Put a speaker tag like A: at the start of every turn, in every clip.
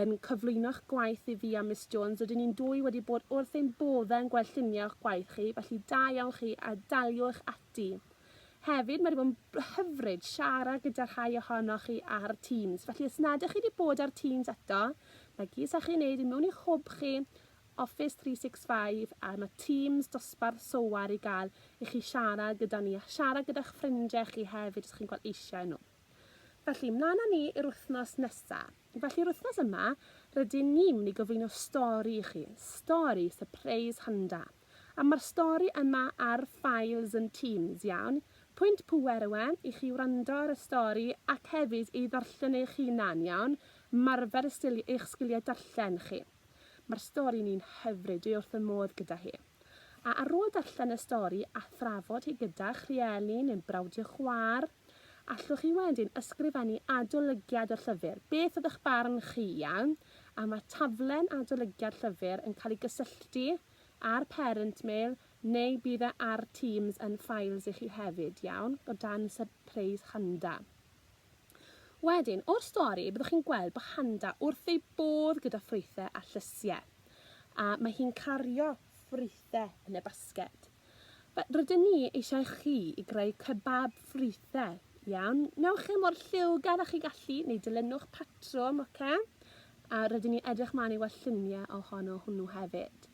A: yn cyflwyno'ch gwaith i fi a Miss Jones, rydyn ni'n dwy wedi bod wrth ein boddau yn gweld lluniau o'ch gwaith chi, felly da iawn chi a daliwch ati. Hefyd, mae wedi bod yn hyfryd siarad gyda rhai ohonoch chi ar Teams, felly os nad ych chi wedi bod ar Teams eto, mae gys â chi wneud i mewn i'ch hwb chi, Office 365 a mae Teams dosbarth software i gael i chi siarad gyda ni a siarad gyda'ch ffrindiau chi hefyd os chi'n gweld eisiau nhw. Felly, mlaen â ni i'r wythnos nesaf. Felly yr wythnos yma, rydyn ni'n mynd i gyflwyno stori i chi, stori sypreis hynda. A mae'r stori yma ar Files and Teams, iawn? Pwynt pŵer yw e i chi wrando ar y stori ac hefyd ei ddarllen eich hunan, iawn? Marfer eich sgiliau darllen chi. Mae'r stori ni'n hyfryd, dwi wrth fy modd gyda hi. A ar ôl darllen y stori a thrafod hi gyda'ch rhieni neu'n brawd i'ch chwaer, Allwch chi wedyn ysgrifennu adolygiad y llyfr, beth oedd eich barn chi, iawn, a mae taflen adolygiad llyfr yn cael ei gysylltu â'r parent mail neu bydd e ar Teams yn Files i chi hefyd, iawn, o dan Surprise Handa. Wedyn, o'r stori, byddwch chi'n gweld bod Handa wrth ei bodd gyda ffrwythau a llysiau, a mae hi'n cario ffrwythau yn y basged. Fe, rydyn ni eisiau chi i greu kebab ffrwythau, iawn? Newch e mor lliwgar â chi gallu, neu dilynwch patrwm, oce? A rydyn ni edrych mlaen i weld lluniau ohono hwnnw hefyd.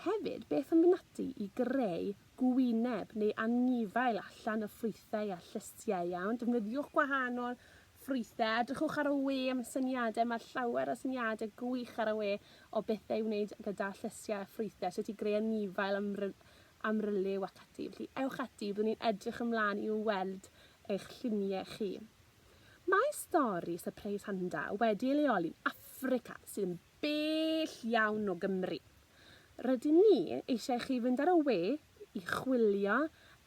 A: Hefyd, beth am fynd ati i greu gwyneb neu anifail allan o ffrwythau a llysiau, iawn? Defnyddiwch gwahanol Ffrwythau, edrychwch ar y we am syniadau, mae llawer o syniadau gwych ar y we o bethau i wneud gyda llysiau a ffrwythau, sut i greu anifail am, am ryliw ac ati. Felly ewch ati, byddwn ni'n edrych ymlaen i'w weld eich lluniau chi. Mae stori sypreis Handa wedi ei leoli'n Affrica sydd yn bell iawn o Gymru. Rydyn ni eisiau chi fynd ar y we i chwilio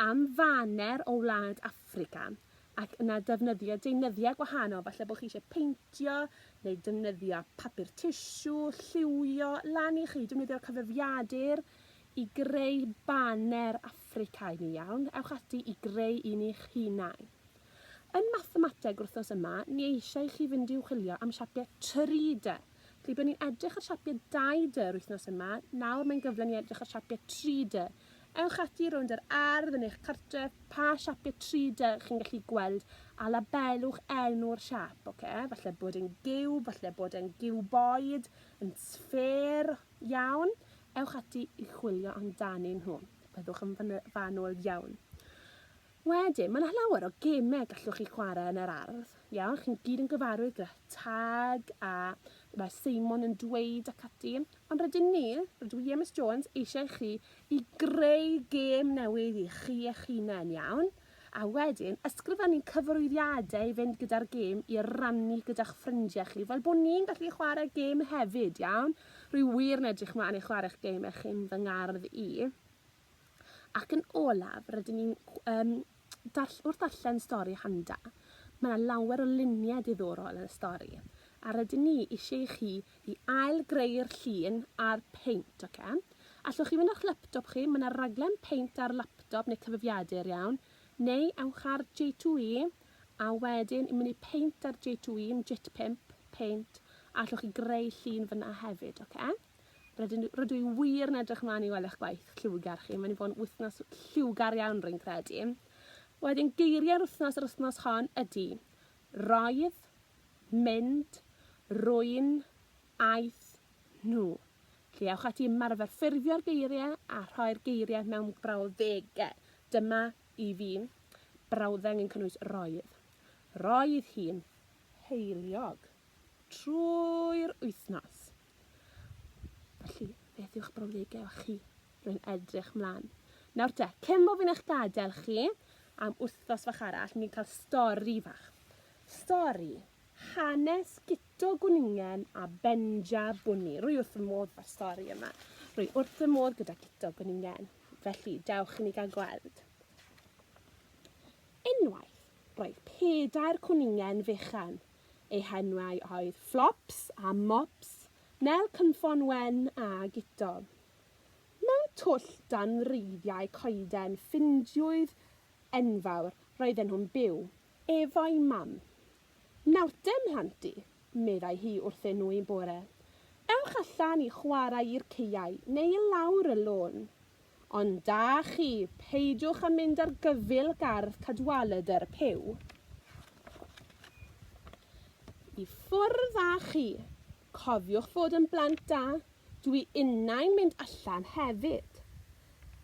A: am faner o wlad Affrica ac yna defnyddio deunyddiau gwahanol, falle bod chi eisiau peintio neu defnyddio papur tissue, lliwio, lan i chi defnyddio'r cyfrifiadur i greu baner Affricaidd ni iawn, ewch ati i greu un i'ch hunain. Yn mathemateg wrthnos yma, ni eisiau chi fynd i'w chwilio am siapiau 3D. Felly, byddwn ni'n edrych ar siapiau 2D yr wythnos yma, nawr mae'n gyfle ni edrych ar siapiau 3D. Ewch ati rownd yr ardd yn eich cartref, pa siapiau 3D chi'n gallu gweld, a labelwch enw'r siap, oce? Falle bod e'n giwb, falle bod e'n giwboid, yn sffêr, iawn? Ewch ati i chwilio amdanyn nhw. Byddwch yn fanwl iawn. Wedyn, mae 'na llawer o gemau gallwch chi chwarae yn yr ardd. Ia, chi'n gyd yn gyfarwydd gyda tag a mae Seimon yn dweud ac ati. Ond rydyn ni, rydw i a Miss Jones, eisiau chi i greu gêm newydd i chi eich hunain, iawn? A wedyn, ysgrifennu cyfarwyddiadau i fynd gyda'r gêm i rannu gyda'ch ffrindiau chi, fel bod ni'n gallu chwarae gêm hefyd, iawn? Rwy wir yn edrych mlaen i chwarae'ch gêm eich chi'n fy ngardd i. Ac yn olaf, rydyn ni'n um, darll wrth darllen stori Handa, mae yna lawer o luniau diddorol yn y stori, a rydyn ni eisiau i chi i ail greu'r llun a'r peint, oce? Okay? Allwch chi fynd â'ch laptop chi, mae yna raglen peint ar laptop neu cyfrifiadur iawn, neu ewch ar J2E, a wedyn yn mynd i peint ar J2E, J5, peint, a allwch chi greu llun fyna hefyd, oce? Okay? Rydyn, rydw i wir yn edrych mlaen i weld eich gwaith lliwgar chi. Mae'n i fod yn wythnos lliwgar iawn rwy'n credu. Wedyn geiriau'r wythnos yr wythnos hon ydy roedd, mynd, rwy'n, aeth, nhw. Felly ewch ati ymarfer ffurfio'r geiriau a rhoi'r geiriau mewn brawddegau. Dyma i fi brawddeg yn cynnwys roedd. Roedd hi'n heiliog trwy'r wythnos. Felly, beth yw'ch brawddegau chi? Rwy'n edrych mlaen. Nawr te, cyn bo fi'n eich gadael chi am wythnos fach arall, ni'n cael stori fach. Stori hanes Guto Gwningen a Benja Bwni. Rwy wrth y modd fa'r stori yma. Rwy wrth y modd gyda Guto Gwningen. Felly, dewch i ni gael gweld. Unwaith, roedd pedair cwningen fechan Eu henwau oedd Flops a Mops, Nel Cynffon Wen a Guto. Mewn twll dan wreiddiau coeden ffindiwyd enfawr, roedden nhw'n byw, efo'i mam. Nawrte, mhlant i, meddai hi wrthyn nhw un bore, ewch allan i chwarae i'r caeau neu i lawr y lôn. Ond da chi, peidiwch a mynd ar gyfyl gardd Cadwaladr Puw. I ffwrdd â chi. Cofiwch fod yn blant da, dwi innau'n mynd allan hefyd.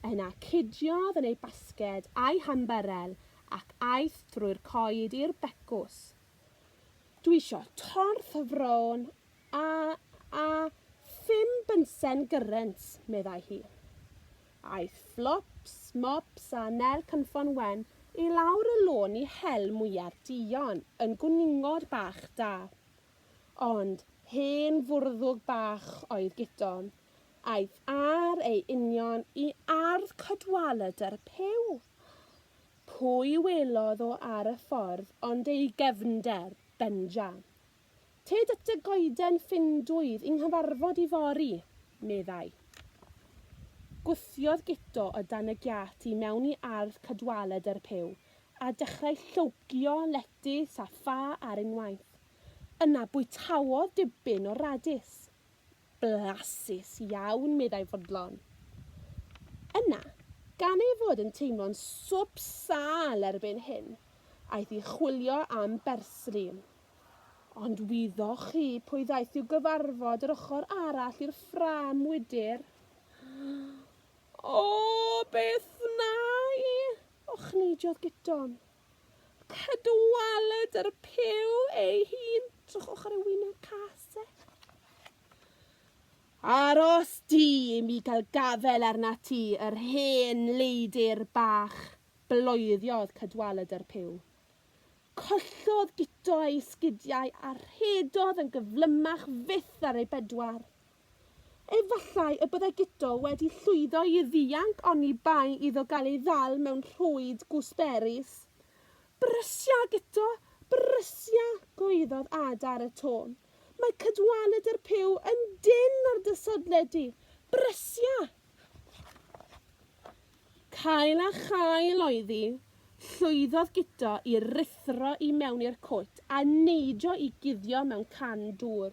A: Yna cudiodd yn ei basged a'i hambyrel ac aeth drwy'r coed i'r becws. Dwi isio torth fron A, a, phum bunsen gyrrent, meddai hi. Aeth Flops, Mops a Nel Cynffon Wen i lawr y lôn i hel mwyar duon yn gwningod bach da. Ond hen fwrddwg bach oedd Gidon. Aeth ar ei union i ardd Cadwaladr y Puw. Pwy welodd o ar y ffordd ond ei gefnder, Benja. Tyd at dy goeden Findwyf i 'nghyfarfod ifory, meddai. Gwthiodd Guto o dan y giât i mewn i ardd cadwaladr yr Huw, a dechrau llogio letys a ffa ar unwaith. Yna bwytaodd dipyn o radis. Blasus iawn, meddai Fodlon. Yna, gan ei fod yn teimlo'n swp sâl erbyn hyn, aeth i chwilio am bersli. Ond wyddoch chi pwy ddaeth i'w gyfarfod yr ochr arall i'r ffrâm wydr? O, beth wna i? ochnidiodd Giton. Cadwalet ar y pew ei hun. Trwch ochr ei wyneb cas e. Aros di i mi gael gafel arna ti, yr hen leidir bach, bloeddiodd Cadwalet ar pew. Collodd Guto ei sgidiau a rhedodd yn gyflymach fyth ar ei bedwar. Efallai y byddai Guto wedi llwyddo i ddianc oni bai iddo gael ei ddal mewn rhwyd gwsberus. Brysia, Guto! Brysia! gwaeddodd Ada ar y to. Mae Cadwaladr yr Puw yn dynn ar dy sodle di! Brysia! Cael a chael oedd hi. Llwyddodd Guto i ruthro i mewn i'r cwt a neidio i guddio mewn can dŵr.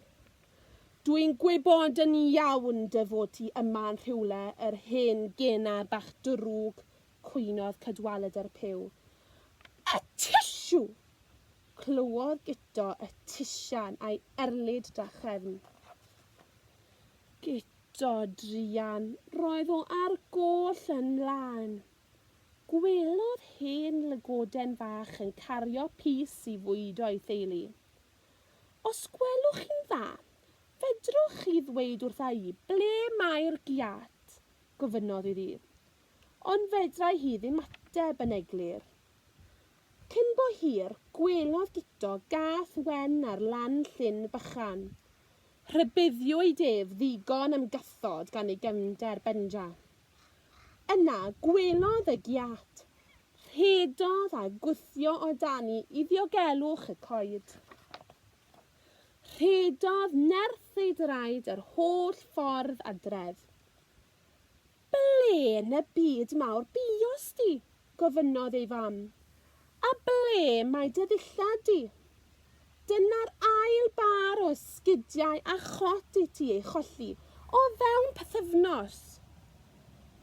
A: Dw i'n gwybod yn iawn dy fod ti yma yn rhywle yr hen genar bach drwg cwynodd Cadwaladr yr Pyw. Y tisiw! Clywodd Guto y tisian a'i erlid drachefn. Guto druan! Roedd o ar goll yn mlaen. Gwelodd hen lygoden fach yn cario pys i fwydo'i theulu. Os gwelwch chi'n dda, fedrwch chi ddweud wrtha i ble mae'r giât? gofynnodd iddi. Ond fedrai hi ddim ateb yn eglur. Cyn bo hir, gwelodd Guto gath wen ar lan llyn bychan. Rhybuddiwyd ef ddigon am gathod gan ei gefnder, Benja. Yna, gwelodd y giât. Rhedodd a gwthio o dani i ddiogelwch y coed. Rhedodd nerth ei draed yr holl ffordd adref. Ble yn y byd mawr buos di? gofynnodd ei fam. A ble mae dy ddillad di? Dyna'r ail bâr o esgidiau a chot i ti ei cholli o fewn pythefnos!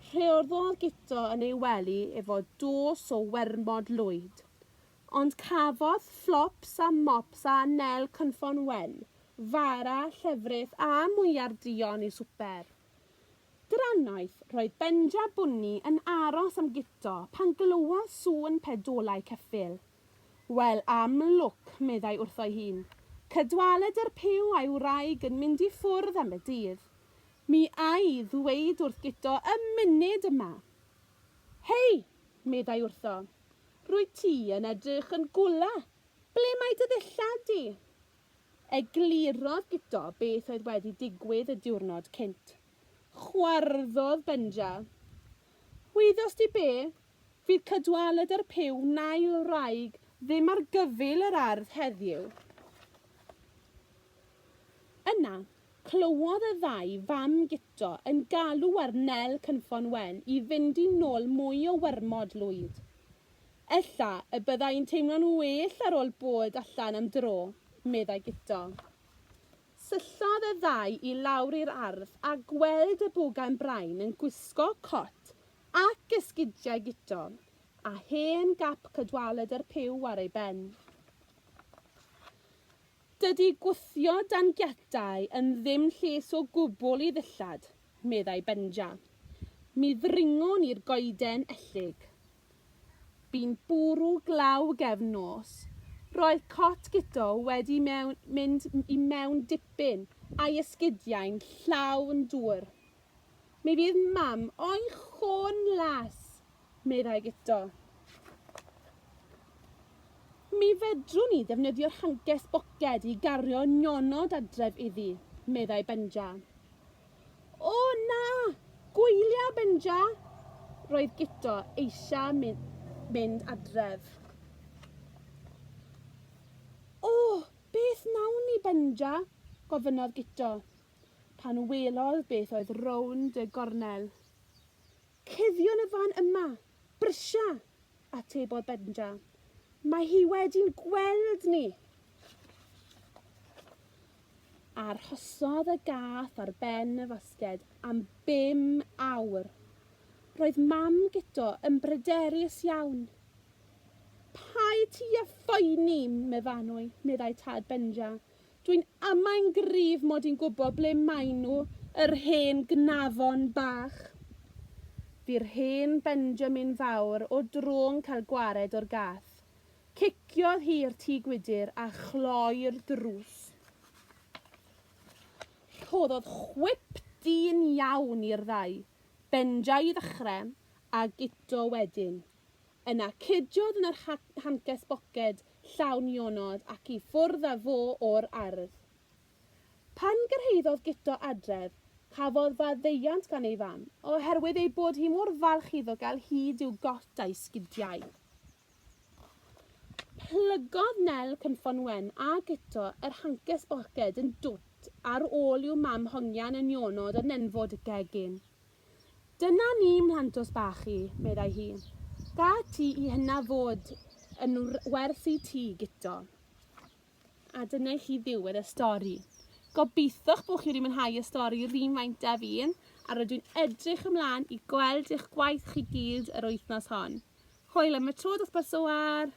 A: Rheolddodd Guto yn ei wely efo dos o wermod lwyd, ond cafodd Flops a Mops a Nel cynffon wen, fara, llefrith a mwyar duon i swper. Drannoeth, roedd Benja Bwni yn aros am Guto pan glywodd sŵn pedolau ceffyl. Wel, am lwc, meddai wrtho'i hun, cydwaled yr Puw a'i wraig yn mynd i ffwrdd am y dydd. Mi a'i ddweud wrth Guto y munud yma! Hei! meddai wrtho, rwyt ti yn edrych yn gwla! Ble mae dy ddillad di? Eglurodd Guto beth oedd wedi digwydd y diwrnod cynt. Chwarddodd Benja. Wyddost ti be? Fydd Cadwaladr y Pyw Nail Wraig ddim ar gyfyl yr ardd heddiw. Yna, clywodd y ddau fam guto yn galw ar Nel Cynffon Wen i fynd i nôl mwy o wyrmod lwyd. Ella y byddai'n teimlo'n well ar ôl bod allan am dro, meddai Guto. Syllodd y ddau i lawr i'r ardd a gweld y bwgan brain yn gwisgo cot Ac esgidiau gutom, a hen gap cadwaladr yr Pyw ar ei ben. Dydy gwthio dan giatau yn ddim lles o gwbl i ddillad, meddai Benja. Mi ddringon ni'r goeden ellyg. Bu'n bwrw glaw gefn nos. Roedd cot Guto wedi mynd i mewn dipyn, a'i esgidiau'n llawn dŵr. Mi fydd mam o'i chôn las, meddai Guto. Mi fedrwn ni ddefnyddio'r hanges boced i gario nionod adref iddi, meddai Benja. O na! Gwylia, Benja! Roedd Guto eisiau mynd adref. O, beth nawn ni, Benja? gofynnodd Guto. pan welodd beth oedd rownd y gornel. Cuddion y fan yma, brysia, atebodd Benja. Mae hi wedi'n gweld ni. Arhosodd y gath ar ben y fasged am bum awr. Roedd mam Guto yn bryderus iawn. Pai ti a phoeni, meddai tad Benja. Dwi'n amain gryf mod i'n gwbo ble maen nhw, yr hen gnafon bach. Fu'r hen Benjamin fawr o dro'n cael gwared o'r gath. Ciciodd hi'r tŷ gwydr a chloi'r drws. Rhoddodd chwip dyn iawn i'r ddau, Benja i ddechre, a Guto wedyn. Yna cediodd yn yr hancest boced llawn ionod ac i ffwrdd â fo o'r ardd. Pan gyrhaeddodd Guto adref, cafodd faddeuant gan ei fam, oherwydd ei bod hi mor falch iddo gael hyd i'w got a'i sgidiau. Plygodd Nel Cynffon Wen a Guto yr hancest boced yn dwt ar ôl i'w mam hongian yn ionod o nenfwd y gegin. Dyna ni, mhlantos bach i, meddai hi. Gât ti i hynna fod yn werth i ti, Guto. A dyna i chi ddiwedd y stori. Gobeitho'ch bod chi wedi mwynhau y stori yr un faint â fi, a rydw i'n edrych ymlaen i gweld eich gwaith chi gyd yr wythnos hon. Hwyl am y tro, dosbarth Soar!